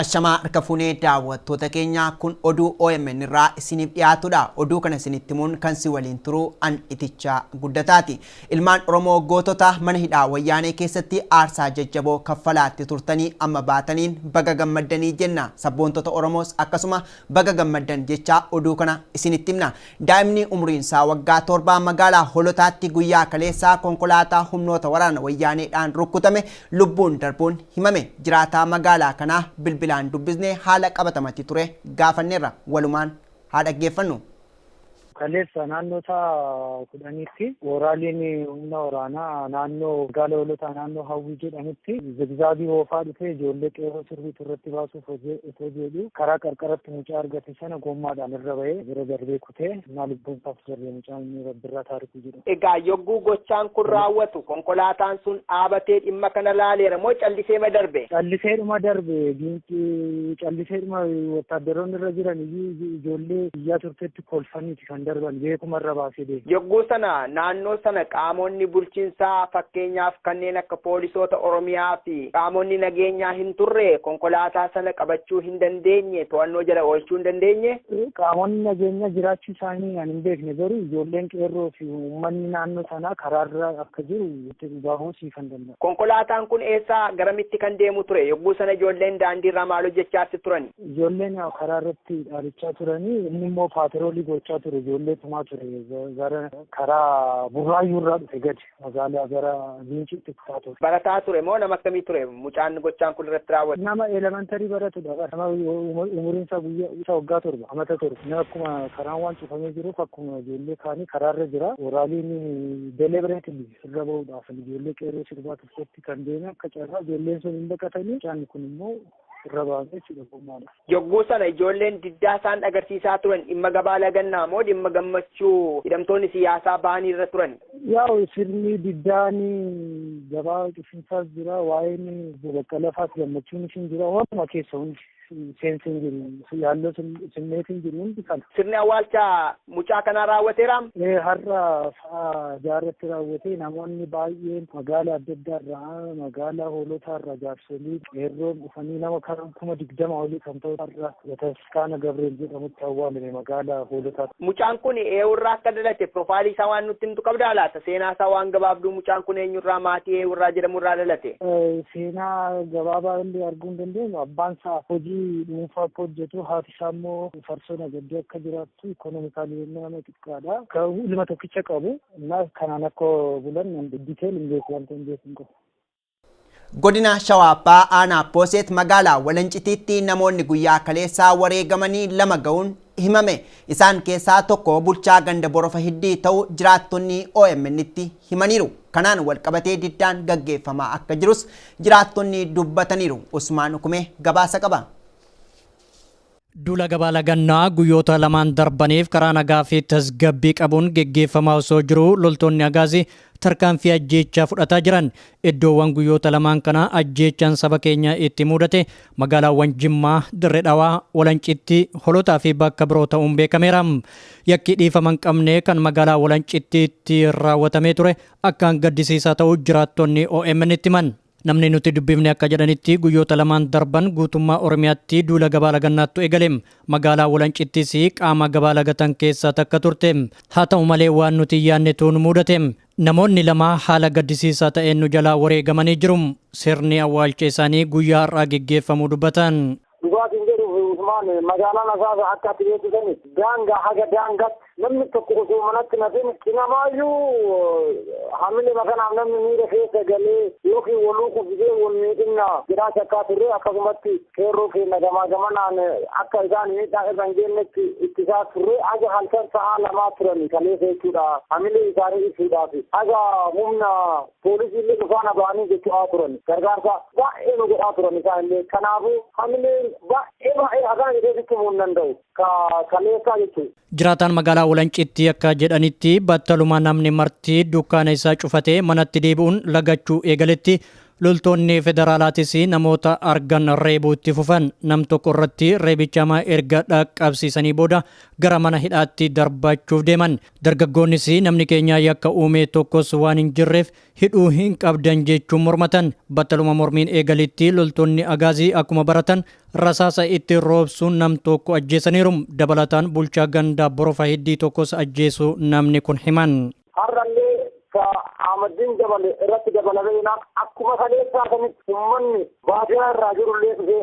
Ashamaa harka fuune daawwattoota keenya kun oduu omn irraa isiniif dhiyaatudha. Oduu kana isinitti himuun kan si waliin turu an Itichaa Guddataati. Ilmaan Oromoo gootota mana hidhaa wayyaanee keessatti aarsaa jajjaboo kaffalaatti turtanii amma baataniin baga gammaddanii jenna. Sabboontota Oromoos akkasuma baga gammaddan jechaa oduu kana isinitti himna. Daa'imni umriin isaa waggaa torba magaalaa Holotaatti guyyaa kaleessaa konkolaataa humnoota waraana Wayyaaneedhaan rukkutame lubbuun darbuun himame. Jiraataa magaalaa kanaa bilbilaan dubbisne haala qabatamatti ture gaafanneerra. Walumaan haa dhaggeeffannu. Kaleessa naannoo sa'a kudhaniitti wooraaliin humna waraanaa naannoo magaala Holotaa naannoo Hawwii jedhamutti zigzaagii oofaa dhufee ijoollee qeerroo sirriitu irratti baasuuf osoo jedhu karaa qarqaratti mucaa argate sana gommaadhaan irra ba'ee bira darbee kutee naa lubbuun isaaf darbee mucaan inni rabbirraa taarikuu jedhu. Egaa yogguu gochaan kun raawwatu konkolaataan sun dhaabatee dhimma kana laaleera moo calliseema darbe? Calliseedhuma darbe giinci calliseedhuma wottaaddaroonni irra jiran iyyuu ijoollee biyyaa turtetti kolfaniiti. kan darban beekuma irra baasee deema. Yogguu sana naannoo sana qaamonni bulchinsaa fakkeenyaaf kanneen akka poolisoota Oromiyaa fi qaamonni nageenyaa hin turre konkolaataa sana qabachuu hin dandeenye to'annoo jala oolchuu hin dandeenye? Qaamonni nageenyaa jiraachuu isaanii kan hin beekne garuu ijoolleen qeerroo fi uummanni naannoo sanaa karaarra akka jiru itti dhugahuu sii kan danda'u. Konkolaataan kun eessaa garamitti kan deemu ture? Yogguu sana ijoolleen daandiirraa maal hojjechaatti turani? Ijoolleen karaa irratti dhaadachaa turanii inni immoo paatiroolii gochaa ture ijoollee tumaa ture gara karaa burraayyuu irraa dhufe gadi magaalaa gara Giinciitti kutaa ture. Barataa ture moo nama akkamii ture mucaan gochaan kun irratti raawwate? Nama elemantarii baratudha bara nama umuriin isaa guyyaa isa waggaa torba amata torba inni akkuma karaan waan cufamee jiruuf akkuma ijoollee kaanii karaarra jira oraaliin deliberately irra bahuudhaaf ijoollee qeerroo sirbaa tokkotti kan deeme akka carraa ijoolleen sun hin baqatanii mucaan kun immoo irra baasa jechuudha gommaadha. Yogguu sana ijoolleen diddaa isaan agarsiisaa turan dhimma gabaa lagannaa moo dhimma gammachuu hidhamtoonni siyaasaa bahanii irra turani? Yaa'u sirni diddaan gabaa cufinsaas jira waa'een obbo Baqqalaa faas gammachuun isin jira waanuma keessa hundi seensi hin jiru yaalloo simmeetiin jiru hundi kana. Sirni awwaalchaa mucaa kanaa raawwateera. Har'a sa'a jaarratti raawwatee namoonni baay'een magaala adda addaa irraa magaalaa hoolotaa irraa jaarsolii qeerroon dhufanii nama karaa kuma digdama olii kan ta'u har'a bataskaana Gabriel jedhamutti awwaalame magaalaa hoolotaa. Mucaan kun eewurraa akka dhalate profaayilii isaa waan nutti himtu qabdaa laata? Seenaa isaa waan gabaabduu mucaan kun eenyurraa maatii eewurraa jedhamu irraa dhalate? Seenaa gabaabaa illee arguu hin dandeenyu abbaan isaa hojii dhuunfaa akka hojjetu haati Isaan immoo farsoo nagaddee akka jiraattu ikoonomikaalii yennaa nama xiqqaadha. Ka ilma tokkicha qabu innaa kanaan akka bulan detail hin beeku wanta hin beeku hin qabu. Godina Shawaa Bahaa Aanaa Pooseet magaalaa Walancitiitti namoonni guyyaa kaleessaa wareegamanii lama ga'uun himame. Isaan keessaa tokko bulchaa ganda Borofa Hiddii ta'uu jiraattonni OMN'tti himaniiru. Kanaan walqabatee diddaan gaggeeffamaa akka jirus jiraattonni dubbataniiru. Usmaan Ukumee gabaasa qaba. Duula gabaa lagannaa guyyoota lamaan darbaniif karaa nagaa fi tasgabbii qabuun geggeeffamaa osoo jiruu loltoonni Agaazii tarkaanfii ajjeechaa fudhataa jiran. Iddoowwan guyyoota lamaan kana ajjeechaan saba keenya itti muudate magaalaawwan Jimmaa, Dirre Dhawaa, Walancitti, Holotaa fi bakka biroo ta'uun beekameera. Yakkii dhiifama hin qabne kan magaalaa Walancittiitti raawwatamee ture akkaan gaddisiisaa ta'uu jiraattonni OMN itti himan. Namni nuti dubbifne akka jedhanitti guyyoota lamaan darban guutummaa Oromiyaatti duula gabaa lagannaattu eegale. Magaalaa Walancittis qaama gabaa lagatan keessaa takka turte. Haa ta'u malee waan nuti hin yaannetu nu muudate. Namoonni lama haala gaddisiisaa ta'een nu jalaa wareegamanii jiru. Sirni awwaalcha isaanii guyyaa har'aa geggeeffamuu dubbatan. Dhugaa siin jedhuuf Usmaan magaalaan Asaasa akka ati beektu sani daangaa haga daangaatti namni tokko osoo manatti hin hafin cinamaayyuu hamilee makanaaf namni miira keessa galee yookiin waluu qubsisee wal miidhinna jedhaa shakkaa turre akkasumatti qeerroo keenya gamaa gamanaan akka isaan miidhaa irra hin geennetti ittisaa turre haga halkan sa'aa lamaa turani kaleessa jechuudha hamilee isaanii ibsuudhaaf haga humna Poolisiillee dhufaa na ba'anii jechu'aa turan. Gargaarsa baay'ee nu godhaa turan isaanillee. Kanaafuu hamileen baay'ee baay'ee akkana jedhee sitti himuu hin danda'u. Ka kaleessaa jechu'u. Jiraataan magaalaa Walancitti akka jedhanitti battaluma namni marti dukkaana isaa cufatee manatti deebi'uun lagachuu eegaletti loltoonni federaalaatis namoota argan reebuu itti fufan. Nam tokko irratti reebicha hamaa erga dhaqqabsiisanii booda gara mana hidhaatti darbachuuf deeman. Dargaggoonnis namni keenya yakka uume tokkos waan hin jirreef hidhuu hin qabdan jechuun mormatan. Battaluma mormiin eegalitti loltoonni Agaazii akkuma baratan rasaasa itti roobsuun nam tokko ajjeesaniiru. Dabalataan bulchaa ganda Borofa Hiddii tokkos ajjeesuu namni kun himan. Har'allee ka Ahmaddiin dabale irratti dabalamee jennaan akkuma kaleessaa sanitti ummanni baadiyaa irraa jirullee dhufee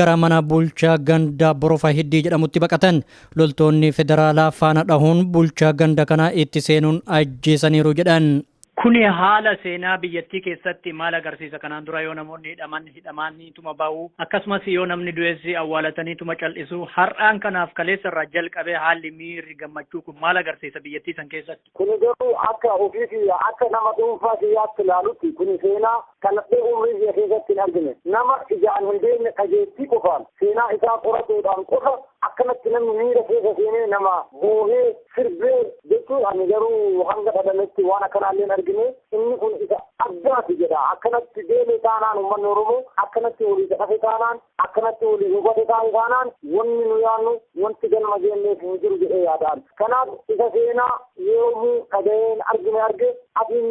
gara mana bulchaa gandaa Borofa Hiddii jedhamutti baqatan. Loltoonni federaalaa faana dhahuun bulchaa ganda kanaa itti seenuun ajjeesaniiru jedhan. Kuni haala seenaa biyyattii keessatti maal agarsiisa? Kanaan dura yoo namoonni hidhaman hidhamaaniituma bahu, akkasumas yoo namni du'es awwaalataniituma cal'isu. Har'aan kanaaf kaleessarraa jalqabee haalli miirri gammachuu kun maal agarsiisa biyyattii san keessatti? Kuni garuu akka ofii kiyya akka nama dhuunfaa kiyyaatti ilaalutti kuni seenaa dhaladhee umrii kiyya keessatti hin argine. Nama ijaan hin beekne dhageettii qofaan seenaa isaa qoratuudhaan qofa akkanatti namni miira keessa seenee nama boohee, sirbee jechuu ani garuu hanga dhalametti waan akkanaallee hin argine. Inni kun isa addaati jedha. Akkanatti deeme taanaan ummanni Oromoo akkanatti waliisa dhafe taanaan Akkanatti waliin hubata ta'an taanaan wanni nu yaannu wanti galma geenneef hin jiru jedhee yaadaan. Kanaaf isa seenaa yoomuu dhagayeen argine arge asiin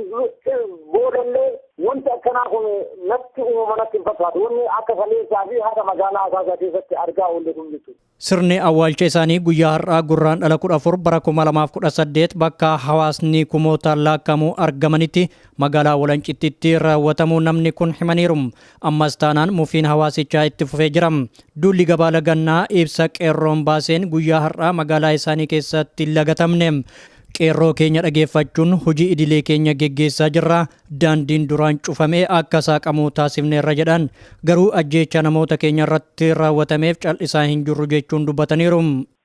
boodallee wanti akkanaa kun natti uumama natti hin fakkaatu. Wanni akka kaleessaa fi haadha magaalaa Asaasaa keessatti argaa oolle kun jechuudha. Sirni awwaalcha isaanii guyyaa har'aa Gurraandhala 14 bara 2018 bakka hawaasni kumootaan laakkamu argamanitti magaalaa Walancittitti raawwatamuu namni kun himaniiru. Ammas taanaan mufiin hawaasichaa itti fufee jira. Duulli gabaa lagannaa ibsa qeerroon baaseen guyyaa har'aa magaalaa isaanii keessatti lagatamne. Qeerroo keenya dhageeffachuun hojii idilee keenya geggeessaa jirra. Daandiin duraan cufame akka saaqamu taasifneerra jedhan. Garuu ajjeechaa namoota keenya irratti raawwatameef cal'isaa hin jirru jechuun dubbataniiru.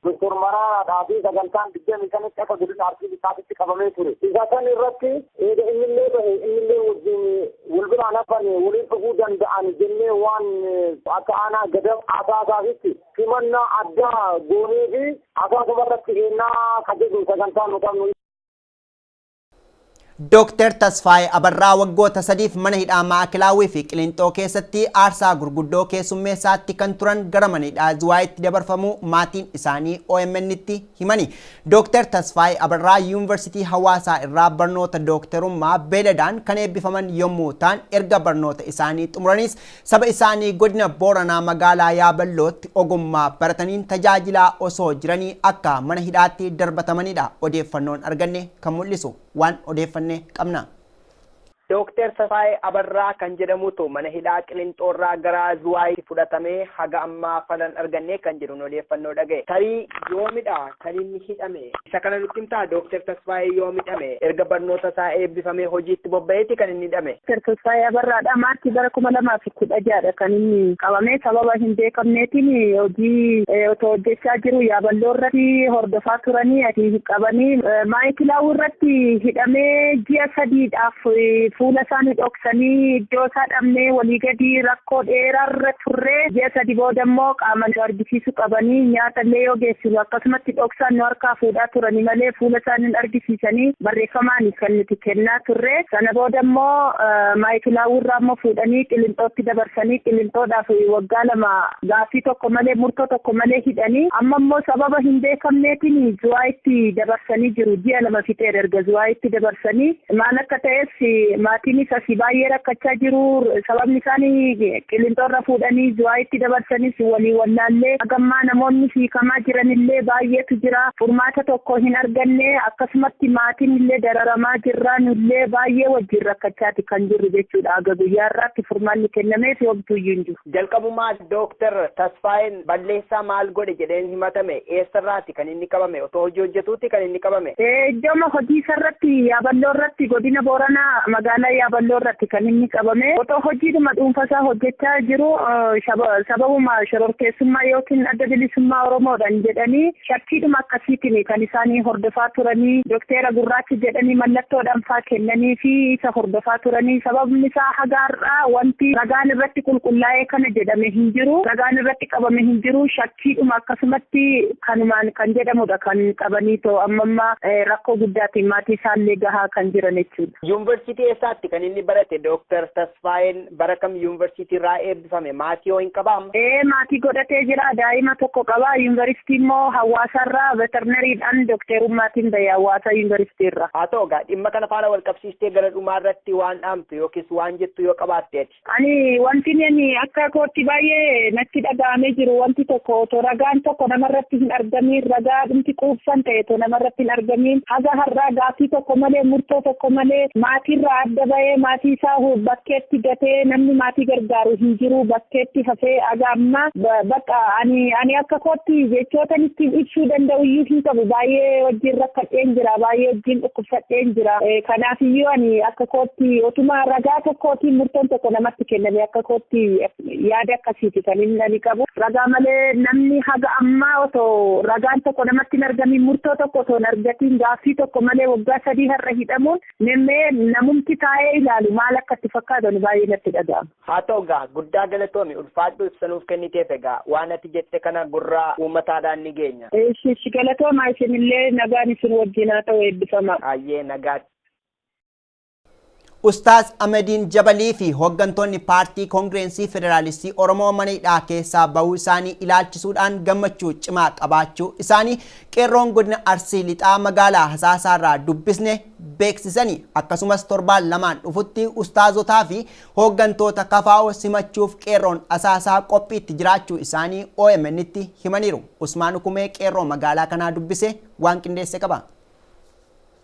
Doktor Maraaraadhaa fi sagantaan 25tti akka godina Arsii Lixaatitti qabamee ture. Isa san irratti eega innillee bahe innillee wajjin wal biraan hafane waliin dhufuu danda'an jennee waan akka aanaa Gadab Asaasaatitti simannaa addaa goonee fi Asaasuma irratti eennaa ka jedhu sagantaa nu qabnu. Dooktar Tasfaayee Abarraa waggoota sadiif mana hidhaa Maa'akilaawwii fi Qilinxoo keessatti aarsaa gurguddoo keessummeessaatti kan turan gara mana hidhaa Ziwaayitti dabarfamuu maatiin isaanii OMN'tti himani. Dooktar Tasfaayee Abarraa Yuunivarsiitii Hawaasaa irraa barnoota dooktarummaa beeladaan kan eebbifaman yommuu ta'an erga barnoota isaanii xumuraniis Saba isaanii Godina Booranaa Magaalaa Yaaballootti ogummaa barataniin tajaajilaa osoo jiranii akka mana hidhaatti darbatamaniidha odeeffannoon arganne kan mul'isu. Waan odeeffanne qabna. Dooktar Tasaayee Abarraa kan jedhamutu mana hidhaa Qilinxoorraa gara Zuwaayitti fudhatamee haga ammaa falan arganne kan jedhuun odeeffannoo dhagahe. Tarii yoomidha? kan inni hidhame. Isa kana nutti himtaa? Dooktar Tasfaayee yoom hidhame? Erga barnoota isaa eebbifamee hojiitti bobba'eeti kan inni hidhame. Dooktar Tasfaayee Abarraadha. Maarchii bara 2016 dha kan inni qabame. Sababa hin beekamneetiin hojii otoo hojjechaa jiru Yaaballoo irratti hordofaa turanii achi qabanii Maayikilaawuu irratti hidhamee ji'a sadiidhaaf fuula isaa nu dhoksanii iddoo isaa dhabnee walii gadi rakkoo dheeraarra turree ji'a sadi booda immoo qaama nu argisiise. argisiisu qabani. Nyaata illee yoo geessinu akkasumatti dhoksaan nu harkaa fuudhaa turani malee fuula isaani hin argisiisani. Barreeffamaani kan nuti kennaa turre. Sana booda immoo Maayikilaawwii irraa immoo fuudhanii Qilinxootti dabarsanii Qilinxoodhaaf waggaa lama gaaffii tokko malee murtoo tokko malee hidhani. Amma immoo sababa hin beekamneetiin Zuwaayitti dabarsanii jiru. Ji'a lama fixeera erga Zuwaayitti dabarsanii. Maal akka ta'es maatiinis asii baay'ee rakkachaa jiru. Sababni isaani Qilinxoorra fuudhanii Zuwaayitti dabarsanis walii wallaallee hagammaa namoonni hiikamaa jiranillee baayyeetu jira. Furmaata tokko hin arganne. Akkasumatti maatiinillee dararamaa jirra. Nullee baayyee wajjin rakkachaati kan jirru jechuudha. Haga guyyaa har'aatti furmaanni kennameefi homtuuyyuu hin jiru. Jalqabumaa Dooktar Tasfaayeen Balleessaa maal godhe jedheen himatame? Eessarraati kan inni qabame? Otoo hojii hojjetuuti kan inni qabame? Iddooma hojiisarratti Yaaballoorratti Godina Booranaa Magaalaa Yaaballoorratti kan inni qabame. Otoo hojiidhuma dhuunfasaa hojjechaa jiruu sababuma shororkeessummaa ykn Adda Bilisummaa Oromoodhan jedhanii Shakkiidhuma akkasiitiin kan isaan hordofaa turanii dokteera gurraacha jedhanii mallattoodhaan faa kennaniifii isa hordofaa turanii sababni isaa haga har'aa wanti ragaan irratti qulqullaa'ee kana jedhame hin jiru ragaan irratti qabame hin jiru shakkiidhuma akkasumatti kanumaan kan jedhamudha kan qabanii too amma amma rakkoo guddaatiin maatii isaallee gahaa kan jiran jechuudha. Yuunvarsiitii eessaatti kan inni barate Dooktar Tasfaa? Ismaa'eel bara kam yuunvarsiitii irraa eebbifame? Maatii hoo hin qabaa? Ee maatii godhatee jira. Daa'ima tokko qaba. Yuunvaristii immoo Hawwaasa irraa Veterinery dhaan Dokteerummaatiin bahe Hawwaasa Yuunvaristii irra. Haa ta'u egaa dhimma kana faana wal qabsiistee gara dhumaa irratti waan dhaamtu yookiis waan jettu yoo qabaatte ati. Ani wantin ani akka kootti baay'ee natti dhaga'amee jiru wanti tokko otoo ragaan tokko nama irratti hin argamiin ragaa dhumti quubsan ta'e otoo nama irratti hin eegameen haga har'aa gaaffii tokko malee murtoo tokko malee maatiirraa adda bahee maatii isaa bakkeetti gatee namni maatii gargaaru hin jiru bakkeetti hafee haga ammaa bakka ani ani akka kootti jechootan ittiin ibsuu danda'u iyyuu hin qabu baay'ee wajjin rakkadheen jira baay'ee wajjin dhukkubsadheen jira kanaaf iyyuu ani akka kootti otuma ragaa tokkootiin murtoon tokko namatti kenname akka kootti Yaada akkasiiti kan inni ani qabu. Ragaa malee namni haga ammaa otoo ragaan tokko namatti hin argamiin murtoo tokko otoo hin argatiin gaaffii tokko malee waggaa sadii har'a hidhamuun memmee namumti taa'ee ilaalu maal akka itti fakkaatan baay'ee natti dhaga'ama. Haa ta'u egaa guddaa galatoomi ulfaadhu ibsa nuuf kenniteef egaa waan ati jette kana gurra uummataadhaan ni geenya. Ishi ishi galatoomaa isinillee nagaan isin wajjin haa ta'u eebbifamaa. Hayyee nagaatti. Ustaaz Amadiin Jabalii fi hoggantoonni Paartii Koongireensii Federaalistii Oromoo mana hidhaa keessaa bahuu isaanii ilaalchisuudhaan gammachuu cimaa qabaachuu isaanii qeerroon godina Arsii Lixaa magaalaa Hasaasaarraa dubbisne beeksisanii akkasumas torbaan lamaan dhufutti ustaazotaa fi hooggantoota kafaa'oo simachuuf qeerroon Asaasaa qophiitti jiraachuu isaanii OMN'tti himaniiru. Usmaan Ukumee qeerroo magaalaa kanaa dubbise waan qindeesse qaba.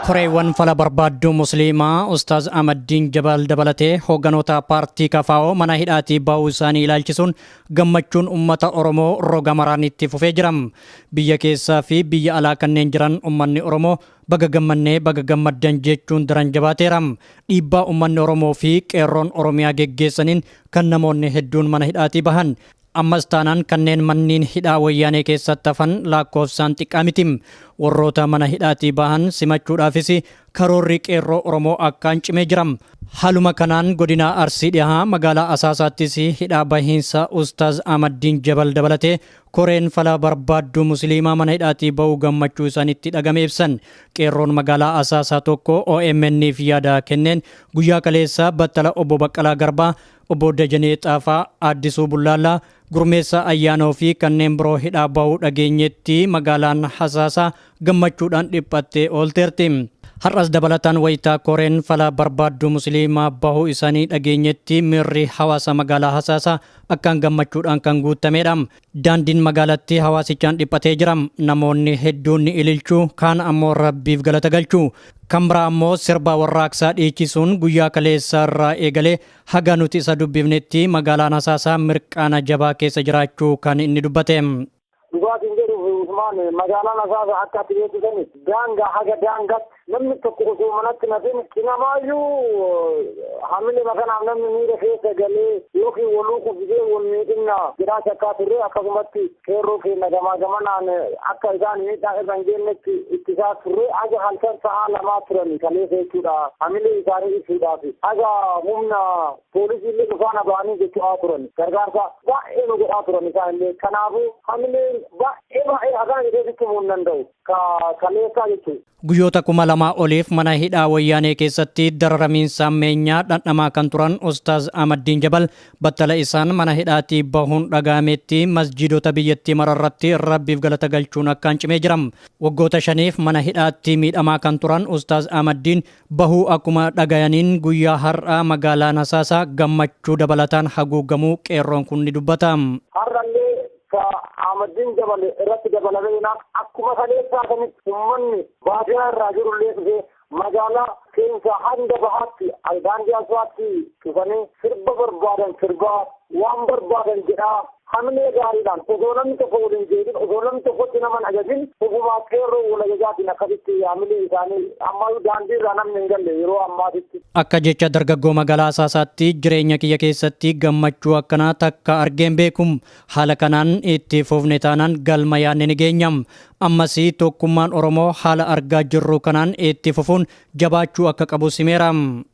Koreewwan fala barbaadduu Musliimaa Ustaaz Ahmaddiin Jabal dabalatee hoogganoota paartii kfo mana hidhaatii ba'uu isaanii ilaalchisuun gammachuun ummata Oromoo roga maraan itti fufee jira. Biyya keessaa fi biyya alaa kanneen jiran ummanni Oromoo baga gammannee baga gammaddan jechuun daran jabaateera. Dhiibbaa ummanni Oromoo fi Qeerroon Oromiyaa geggeessaniin kan namoonni hedduun mana hidhaatii bahan Ammas taanaan kanneen manniin hidhaa wayyaanee keessatti hafan laakkoofsaan xiqqaa miti. Warroota mana hidhaatii bahan simachuudhaafis karoorri qeerroo Oromoo akkaan cimee jira. Haaluma kanaan godinaa Arsii Dhihaa magaalaa Asaasaattis hidhaa bahiinsa Ustaaz Ahmaddiin Jabal dabalatee koreen fala barbaadduu Musiliimaa mana hidhaatii bahuu gammachuu isaanitti dhagame ibsan. Qeerroon magaalaa Asaasaa tokko OMN'f yaada kenneen guyyaa kaleessaa battala obbo Baqqalaa Garbaa Obbo Dajanee Xaafaa, Aaddisuu Bullaallaa, Gurmeessaa Ayyaanoo fi kanneen biroo hidhaa bahuu dhageenyetti magaalaan Hasaasaa gammachuudhaan dhiphattee oolteerti. Har'as dabalataan wayita koreen fala barbaadduu Musiliimaa bahuu isaanii dhageenyetti miirri hawaasa magaalaa Hasaasaa akkaan gammachuudhaan kan guuttameedha. Daandiin magaalattii hawaasichaan dhiphatee jira. Namoonni hedduun ni ililchu, kaan ammoo Rabbiif galata galchu. Kan biraa ammoo sirba warraaqsaa dhiichisuun guyyaa kaleessaa irraa eegalee haga nuti isa dubbifnetti magaalaan Hasaasaa mirqaana jabaa keessa jiraachuu kan inni dubbate. Dhugaa siin jedhuuf Usmaan magaalaan Hasaasaa akka ati beektu sanitti daangaa haga daangaatti Namni tokko osoo manatti hin hafin cinamaayyuu hamilema kanaaf namni miira keessa galee yookiin waluu kuffisee wal miidhinna jedhaa shakkaa turre akkasumatti qeerroo keenya gamaa gamanaan akka isaan miidhaa irra hin geennetti ittisaa turre haga halkan sa'aa lamaa turani kaleessa jechuudha hamilee isaanii ibsuudhaaf haga humna poolisii illee dhufaana ba'anii jechaa turan gargaarsa baay'ee nu godhaa turan isaan illee kanaafuu hamileen baay'ee baay'ee akkana jedhee sitti himuu hin danda'u. ka kaleessaa jechuun. Guyyoota kuma lamaa oliif mana hidhaa Wayyaanee keessatti dararamiinsa hammeenyaa dhandhamaa kan turan Ustaaz Ahmaddiin Jabal battala isaan mana hidhaatii bahuun dhaga'ameetti masjiidota biyyattii mara irratti Rabbiif galata galchuun akkaan cimee jira. Waggoota shaniif mana hidhaatti miidhamaa kan turan Ustaaz Ahmaddiin bahuu akkuma dhagayaniin guyyaa har'aa magaalaan Hasaasaa gammachuu dabalataan haguugamuu qeerroon kun ni dubbata. Har'allee ka Ahmaddiin dabale irratti dabalamee jennaan akkuma kaleessaa sanitti ummanni baadiyaa irraa jirullee dhufee magaalaa keessa hanga bahaatti daandii asfaatti cufanii sirba barbaadan sirbaa waan barbaadan jedhaa hamilee gaariidhaan osoo namni tokko wal hin jeedhin osoo namni tokkotti nama hin ajajin ofumaa qeerroo wal ajajaatiin akkasitti hamilee isaanii ammayyuu daandii irraa namni hin galle yeroo ammaatitti. Akka jecha dargaggoo magaalaa Asaasaatti jireenya kiyya keessatti gammachuu akkanaa takka argeen beekum Haala kanaan itti fufne taanaan galma yaadne ni geenya. Ammas tokkummaan Oromoo haala argaa jirru kanaan itti fufuun jabaachuu akka qabus himeera.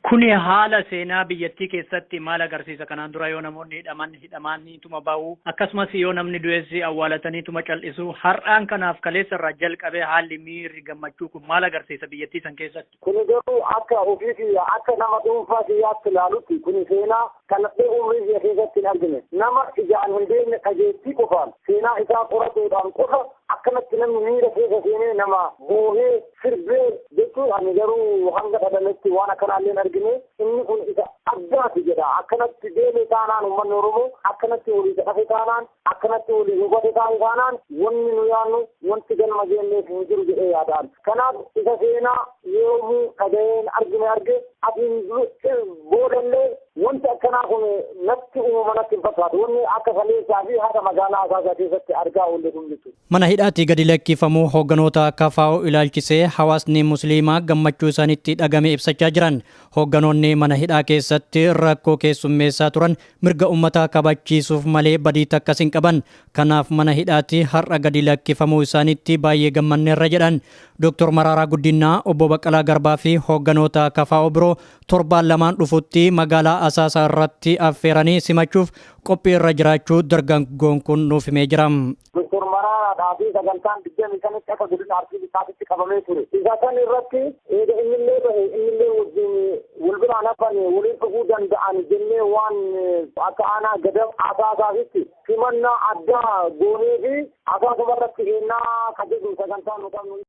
Kuni haala seenaa biyyattii keessatti maal agarsiisa? Kanaan dura yoo namoonni hidhaman hidhamaaniituma bahu, akkasumas yoo namni du'es awwaalataniituma cal'isu. Har'aan kanaaf kaleessarraa jalqabee haalli miirri gammachuu kun maal agarsiisa biyyattii san keessatti? Kuni garuu akka ofii kiyya akka nama dhuunfaa kiyyaatti ilaalutti kuni seenaa dhaladhee umrii kiyya keessatti hin argine. Nama ijaan hin beekne dhageettii qofaan seenaa isaa qoratuudhaan qofa akkanatti namni miira keessa seenee nama boohee, sirbee jechuu ani garuu hanga dhalanetti waan akkanaallee hin argine. Inni kun isa addaati jedha. Akkanatti deeme taanaan ummanni Oromoo akkanatti waliisa dhafe taanaan Akkanatti waliin hubate taane taanaan wanni nu yaannu wanti galma geenneef hin jiru jedhee yaada an. Kanaaf isa seenaa yoomuu dhagayeen argine arge asiin boodallee wanti akkanaa kun natti uumama natti hin fakkaatu. Wanni akka kaleessaa fi haqa magaalaa Asaasaa keessatti argaa oolle kun jechuudha. Mana hidhaatii gadi lakkifamuu hoogganoota KFO ilaalchisee hawaasni musliimaa gammachuu isaanitti dhagame ibsachaa jiran. Hoogganoonni mana hidhaa keessatti rakkoo keessummeessaa turan Mirga ummataa kabachiisuuf malee badii takkas hin qaban. Kanaaf mana hidhaatii har'a gadi lakkifamuu isaaniitti baay'ee gammanneerra jedhan. Doktor Maraaraa Guddinnaa, Obbo Baqqalaa Garbaa fi hoogganoota kfo biroo torbaan lamaan dhufutti magaalaa Asaasaa irratti affeeranii simachuuf qophii irra jiraachuu dargaggoon kun nuuf himee jira. Doktor Maraaraadhaa fi sagantaan digdamii shanitti akka godina Arsii Lixaatitti qabamee ture. Isa san irratti eega innillee bahe innillee wajjin wal biraan hafan waliin dhufuu danda'an jennee waan akka aanaa gadab asaasaasitti simannaa addaa goonee fi asaasuma irratti eennaa ka jedhu sagantaa nu qabnu.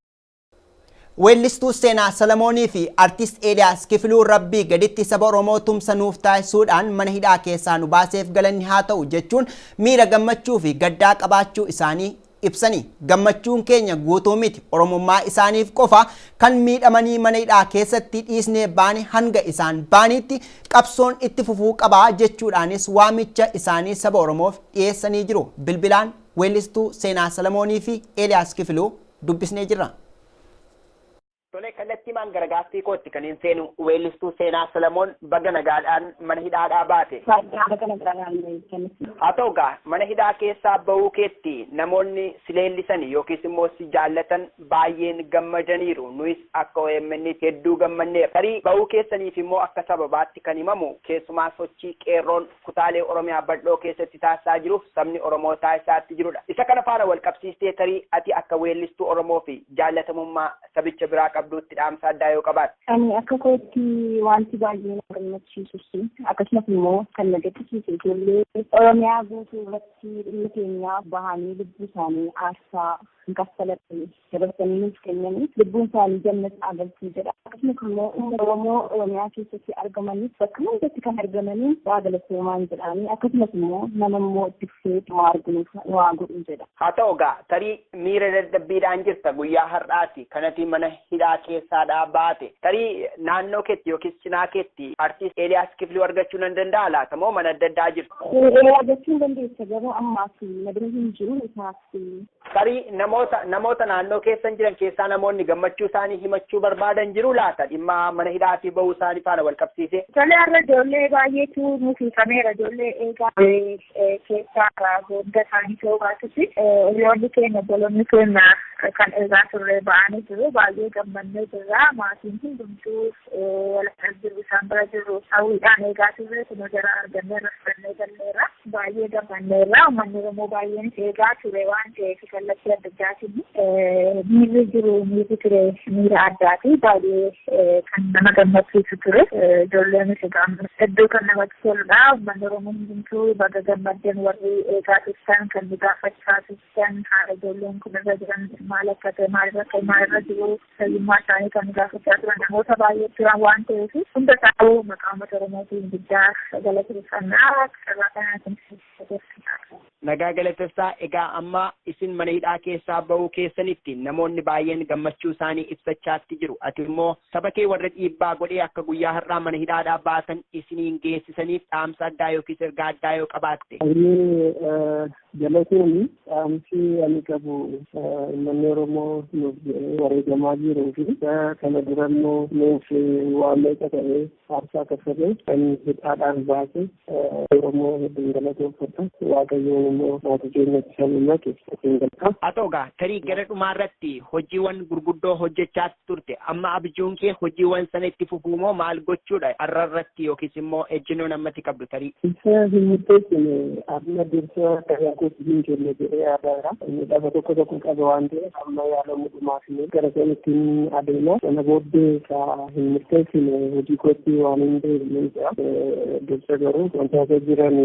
Weellistuu Seenaa Salamoonii fi Artist Eeliyaas Kifiluu Rabbii gaditti saba Oromoo tumsa nuuf taasisuudhaan mana hidhaa keessaa nu baaseef galanni haa ta'u jechuun miira gammachuu fi gaddaa qabaachuu isaanii ibsanii gammachuun keenya guutuu miti Oromummaa isaaniif qofa kan miidhamanii mana hidhaa keessatti dhiisnee baane hanga isaan baaniitti qabsoon itti fufuu qaba jechuudhaanis waamicha isaanii saba Oromoof dhiyeessanii jiru bilbilaan weellistuu Seenaa Salamoonii fi Eeliyaas Kifiluu dubbisnee jirra. Tole kallattiimaan gara gaaffii kootti kaniin seenu weellistuu Seenaa Salamoon baga nagaadhaan mana hidhaadhaa baate. Baay'ee baga nagaadhaan isinis. Haa ta'u egaa mana hidhaa keessaa ba'uu keetti namoonni si leellisan yookiis immoo si jaallatan baay'een gammadaniiru. Nuyis akka OMN'tti hedduu gammanneerra. Tarii ba'uu keessaniif immoo akka sababaatti kan himamu keessumaa sochii Qeerroon kutaalee Oromiyaa bal'oo keessatti taasisaa jiruuf sabni Oromoo taasisaa itti jirudha. Isa kana faana walqabsiistee tarii ati akka weellistuu Oromoo fi jaallatamummaa sabicha biraa qabduutti dhaamsa addaa yoo qabaatte? Ani akka kootti wanti baay'ee na gammachiisus akkasumas immoo kan na gaddisiise ijoollee Oromiyaa guutuu irratti dhimma keenyaaf bahanii lubbuu isaanii aarsaa hin kaffalatani. dabarsanii nuuf kennanii lubbuun isaanii jannata haa galtuu jedha. Akkasumas immoo uummata Oromoo Oromiyaa keessatti argamanis bakka hundatti kan argamanii waa galatoomaan jedhaanii akkasumas immoo nama immoo itti fufee waa arginuuf waa godhu jedha. Haa ta'u gaa tarii miira dadhabbiidhaan jirta guyyaa har'aati kanati mana hidhaa keessaadhaa baate tarii naannoo keetti yookiis cinaa keetti artiist Eeliyaas Kifluu argachuu nan danda'a laata moo mana adda addaa jirtu? Eeliyaa argachuu hin dandeessa garuu ammaaf na bira hin jiru isaa Tarii namoota namoota naannoo keessan jiran keessaa namoonni gammachuu isaanii himachuu barbaadan jiru laata dhimma mana hidhaatii ba'uu isaanii faana wal qabsiisee? Tole har'a ijoollee baay'eetu nuuf hiikamera ijoollee eegaa keessaa hunda isaanii ta'uu baatus hiriyoonni keenya obboloonni keenya kan eegaa turre ba'anii jiru baay'ee gammannee jirra maatiin hundumtuu Waltajjii isaan bira jirru hawwiidhaan eegaa turre kunoo jara arganneerra fudhannee galleerra. Baay'ee gammanneerra. Uummanni Oromoo baay'eenis eegaa ture waan ta'eef kallattii adda addaatiin miirri jiru miirri ture miira addaati. Baay'ee kan nama gammachiisu ture. Ijoolleenis egaa hedduu kan namatti toludha. Uummanni Oromoo hundumtuu baga gammaddan warri eegaa turtan kan nu gaafachaa turtan haala ijoolleen kun irra jiran maal akka ta'e maalirra akka maalirra jiru fayyummaa isaanii kan gaafachaa turan namoota baay'ee turan waan ta'eef hunda isaanii maqaa uummata Oromootiin guddaa galateeffannaa carraa kanaatiin galateeffannaa. Nagaa galatessaa egaa amma isin mana hidhaa keessaa ba'uu keessanitti namoonni baay'een gammachuu isaanii ibsachaatti jiru ati immoo saba kee warra dhiibbaa godhee akka guyyaa har'aa mana hidhaadhaa baatan isiniin geessisaniif dhaamsa addaa yookiis ergaa addaa yoo qabaatte. Galatoomi dhaamsi ani qabu uummanni Oromoo nuuf jedhee wareegamaa jiruu fi kana dura immoo nuuf waan meeqa ta'ee aarsaa kaffalee kan hidhaadhaan baase Oromoo hedduun galatoomfadha. Waaqayyoon immoo maatii keenyatti kan himatu isin galcha. Haa ta'u egaa tarii gara dhumaa irratti hojiiwwan gurguddoo hojjechaa turte amma abjuun kee hojii wan sana itti fufuu moo maal gochuudha arra irratti yookiis immoo ejjinoon ammati qabdu tarii. Isa hin murteessine amma dursa karaa kootti hin kenne jedhee yaadaara. Midhama tokko tokko qaba waan ta'eef amma yaalamu dhumaafine gara sanittiin adeema. Sana booddee ka hin murteessine hojii kootti waan hin deebine jira. Dursa garuu wantoota jiran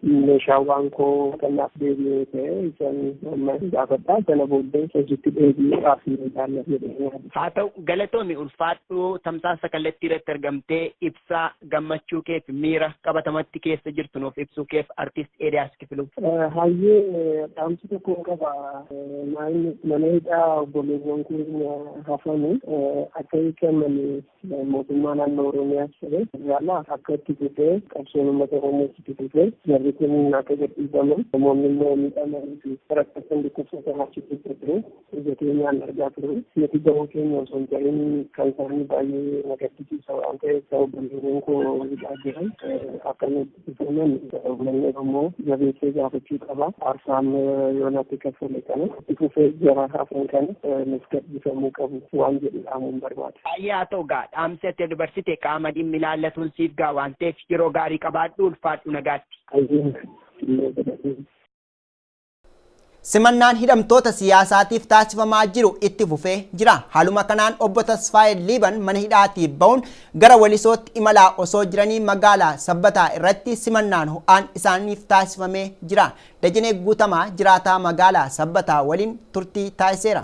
meeshaawwan koo kanaaf deebi'ee ta'e isaan Ammas gaafadha sana booddee hojiitti deebi'ee haasni ilaalla jedhee Haa ta'u galatoomi ulfaadhu tamsaasa kallattii irratti argamtee ibsaa gammachuu keef miira qabatamatti keessa jirtu nuuf ibsuu keef artiist Eeliyaas Kifiluu. Hayyee dhaamsi tokko qaba maayini mana hidhaa obboleewwan keenya hafanii akka hiikamanii mootummaa naannoo Oromiyaas ta'e federaalaa akka itti fufee qabsoon uummata Oromoo itti fufee jarri kun akka gadhiifaman namoonni immoo miidhamanii fi rakkatan dhukkubsatan achi keessa ture ija keenyaan argaa ture nuti gahuu keenya osoo hin ta'in kan isaanii baay'ee na gaddisiisa waan ta'eef obboleewwan koo hidhaa jiran akka Itoophiyaa uummanni Oromoo jabeessee gaafachuu qaba. Aarsaan yoonatti kaffale kana itti fufee jara hafan kana nuuf gadhiifamuu qabu waan jedhu dhaamuun barbaada. Baay'ee haa ta'u gaa dhaamsi ati dabarsite qaama dhimmi ilaallatuun siif ga'a waan ta'eef yeroo gaarii qabaadhu ulfaadhu nagaatti. Ayyee illee jedhanii. Simannaan hidhamtoota siyaasaatiif taasifamaa jiru itti fufee jira. Haaluma kanaan obbo Tasfaayee Liiban mana hidhaatii ba'uun gara Walisootti imalaa osoo jiranii magaalaa Sabbataa irratti simannaan ho'aan isaaniif taasifamee jira. Dajanee Guutamaa jiraataa magaalaa Sabbataa waliin turtii taasiseera.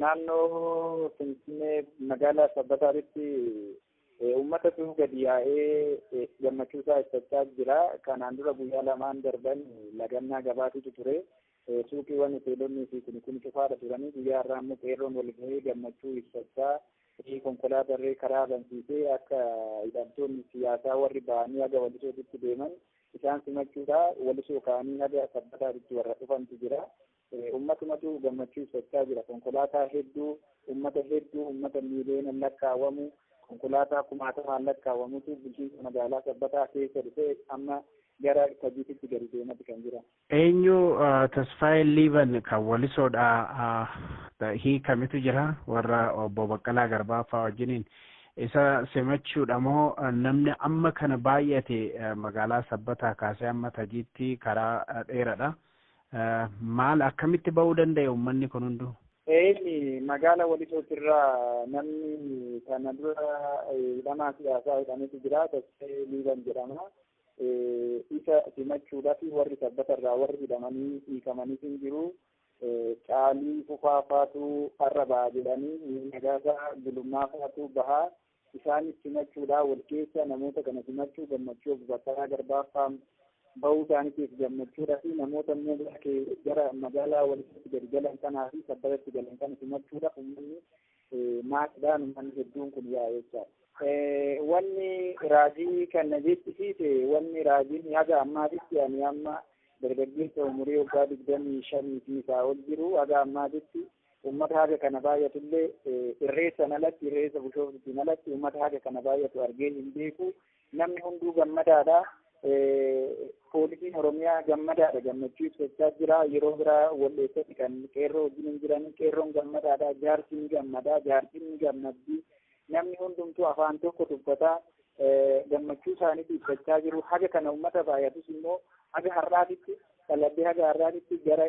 Naannoo Finfinnee magaalaa Sabbataatti uummatatu gadi yaa'ee gammachuu isaa ibsachaa jira. Kanaan dura guyyaa lamaan darban lagannaa gabaatitu ture. Suuqiiwwan, Hoteelonnii fi kuni kuni cufaadha turanii guyyaa har'aa immoo qeerroon wal gahee gammachuu ibsachaa konkolaatarree karaa bansiisee akka hidhamtoonni siyaasaa warri ba'anii haga Walisootitti deeman isaan simachuudha. Walisoo ka'anii haga Sabbataatitti warra dhufantu jira. Ummatumatu gammachuu ibsachaa jira. Konkolaataa hedduu, ummata hedduu, ummata miiliyoonaan lakkaa'amu, konkolaataa kumaatamaan lakkaa'amutu bulchiinsa magaalaa Sabbataa keessa dhufee amma gara Tajiititti gadi deemati kan jiran. Eenyu Tasfaayee Liiban kan Walisoodhaa hiikamitu jira warra Obbo Baqqalaa Garbaa faa wajjiniin isa simachuudha moo namni amma kana baay'ate magaalaa Sabbataa kaasee amma Tajiitti karaa dheeradha maal akkamitti ba'uu danda'e ummanni kun hunduu? Eeyni magaala Walisootirraa namni kana dura hidhamaa siyaasaa hidhametu jira Tasfaayee Liiban jedhama. Isa simachuudhaaf warri sabbata irraa warri hidhamanii hiikamanis hin jiru. Caalii fufaa faatu har'a baha jedhanii nagaasaa gulummaa faatu baha. Isaanis simachuudhaa wal keessa namoota kana simachuu gammachuu obbo Baqqalaa Garbaa fa'aa bahuu isaaniitiif gammachuudhaa fi namoota immoo gara magaalaa walitti gadi galan kanaa fi sabbatatti galan kana simachuudhaaf uummanni maatidhaan ummanni hedduun kun yaa'e jechaadha. Wanni raajii kana jechisiise wanni raajiin haga ammaatitti ani amma dargaggeessa umurii waggaa digdamii shanii fi isaa ol jiru haga ammaatitti uummata haga kana baay'atullee irreessan alatti irreessa bushooftuutiin alatti uummata haga kana baay'atu argee hin beeku Namni hunduu gammadaadha. Poolisiin Oromiyaa gammadaadha gammachuu ibsachaa jira. Yeroo biraa wal'eessatti kan qeerroo wajjin hin jiran qeerroon gammadaadha. Jaarsi ni gammadaa, jaartiin ni gammaddi. Namni hundumtuu afaan tokko dubbataa gammachuu isaaniitti ibsachaa jiru. Haga kana uummata baay'atus immoo haga har'aatitti qalabbii haga har'aatitti gara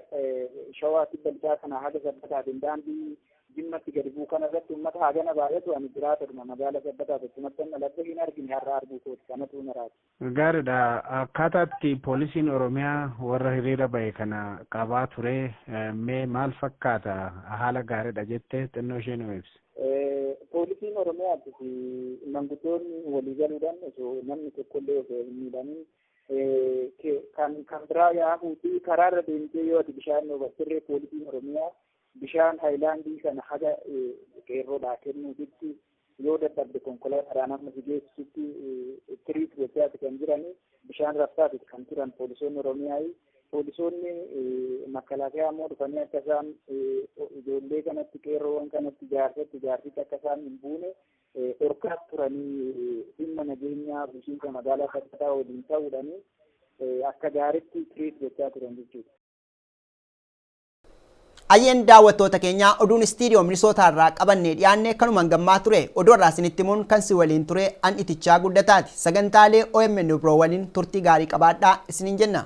shawaatti bal'aa kana haga sabbataatiin daandii Jimmatti gadi bu'u kana irratti uummata hagana baay'atu ani jiraatadhuma magaala sabbataa tokkumattan dhaladhe hin argine har'a arguu kooti kanatu naraati. Gaariidha. Akkaataa itti poolisiin Oromiyaa warra hiriira bahe kana qabaa ture mee maal fakkaata? Haala gaariidha jette xinnoo ishee nuu ibsi. Poolisiin Oromiyaatti fi manguddoonni walii galuudhaan osoo namni tokkollee osoo hin miidhamin kan kan biraa yaahuuti karaarra deemtee yoo ati bishaan obassirree poolisiin Oromiyaa Bishaan hayilaandii sana haga qeerroodhaa kennuufitti yoo dadhabde konkolaataadhaan amma si geessisutti tiriit gochaati kan jiran bishaan rabsaati kan turan poolisoonni Oromiyaa. Poolisoonni makalaakaa immoo dhufanii akka isaan ijoollee kanatti qeerroowwan kanatti jaarsatti jaarsitti akka isaan hin buune dhorkaa turanii dhimma nageenyaa bulchiinsa magaalaa Sabbataa waliin ta'uudhaan akka gaariitti tiriit gochaa turan jechuudha. Ayyeen daawwattoota keenyaa oduun istiidiyoo Minisootaa irraa qabannee dhiyaanne kanumaan gammaa ture. Oduu irraa isinitti himuun kan si waliin ture an itichaa guddataati. Sagantaalee OMN biroo waliin turtii gaarii qabaadhaa isiniin jenna.